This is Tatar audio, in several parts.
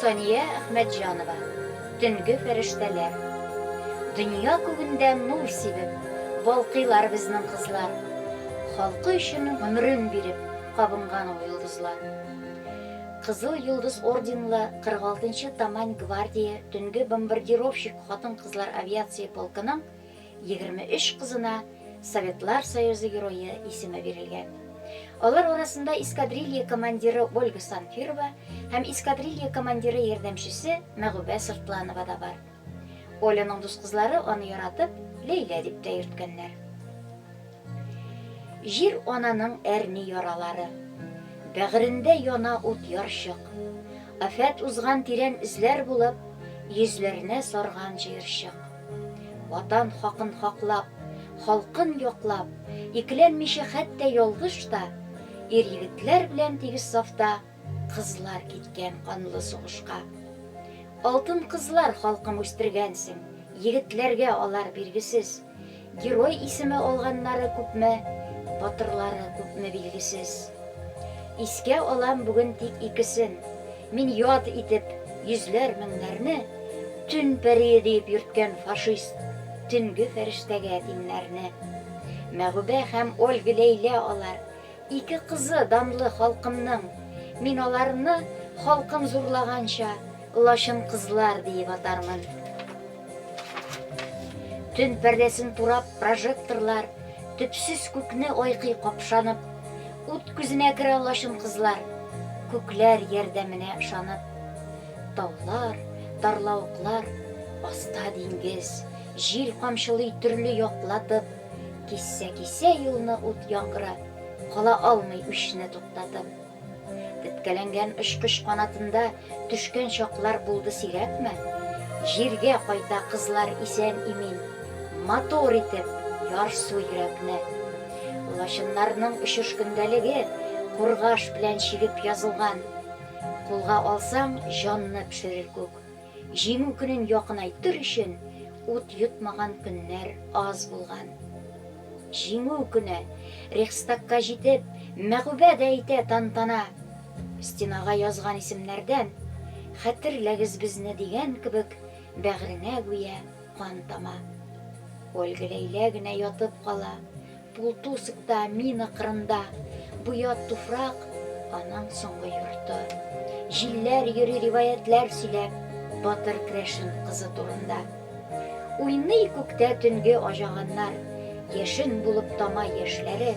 Сания Әхмәтҗанова, Төнге фәрештәләр. Дөнья күгендә нур сибеп, Балкыйлар безнең кызлар. Халкы өчен гомерен биреп, Кабынган ул йолдызлар. Кызыл Йолдыз орденлы 46 нчы Тамань гвардия төнге бомбардировщик хатын-кызлар авиация полкының Егерме өч кызына Советлар Союзы Герое исеме бирелгән. Алар арасында эскадрилья командиры Ольга Санфирова һәм эскадрилья командиры ярдәмчесе Мәгүбә Сыртланова да бар. Оляның дус кызлары аны яратып, Ләйлә дип тә йөрткәннәр. Җир ананың әрни яралары. Бәгырендә яна ут ярчык. Афәт узган тирән эзләр булып, Йөзләрне сарган җыерчык. Ватан хакын хаклап, халкын яклап, икеләнмичә хәтта ялгыш та, ир-егетләр белән тигез сафта кызлар киткән канлы сугышка. Алтын кызлар халкым үстергәнсең, егетләргә алар биргесез. Герой исеме алганнары күпме, батырлары күпме билгесез. Искә алам бүген тик икесен. Мин яд итеп йөзләр меңнәрне, Төн пәрие диеп йөрткән фашист Төнге фәрештәгә тиңнәрне. Мәгүбә һәм Ольга Ләйлә алар, Ике кызы данлы халкымның. Мин аларны, халкым зурлаганча, Лачын кызлар диеп атармын. Төн пәрдәсен турап прожекторлар, Төпсез күкне айкый капшанып. Ут күзенә керә лачын кызлар, Күкләр ярдәменә ышанып. Таулар, тарлавыклар, аста диңгез, Җил камчылый төрле яклатып. Кисә-кисә юлны ут яңгыры, Кала алмый үчне туктатып. Теткәләнгән очкыч канатында Төшкән чаклар булды сирәкме? Җиргә кайта кызлар исән-имин, Матур итеп ярсу йөрәкне. Лачыннарның очыш көндәлеге Кургаш белән чигеп язылган. Кулга алсаң, җанны пешерер күк. Җиңү көнен якынайтыр өчен ут йотмаган көннәр аз булган. Җиңү көне, Рейхстагка җитеп, мәгъүбә дә әйтә тантана. Стенага язган исемнәрдән, Хәтерләгез безне дигән кебек, бәгыренә гүя кан тама. Ольга Ләйлә генә ятып кала. Пултусыкта, мина кырында. Буя туфрак, аның соңгы йорты. Җилләр йөри риваятьләр сөйләп, Батыр крәшен кызы турында. Уйный күктә төнге аҗаганнар, Яшен булып тама яшьләре.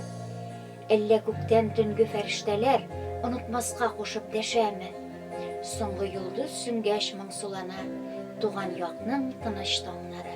Әллә күктән төнге фәрештәләр Онытмаска кушып дәшәме? Соңгы йолдыз сүнгәч моңсулана Туган якның тыныч таңнары.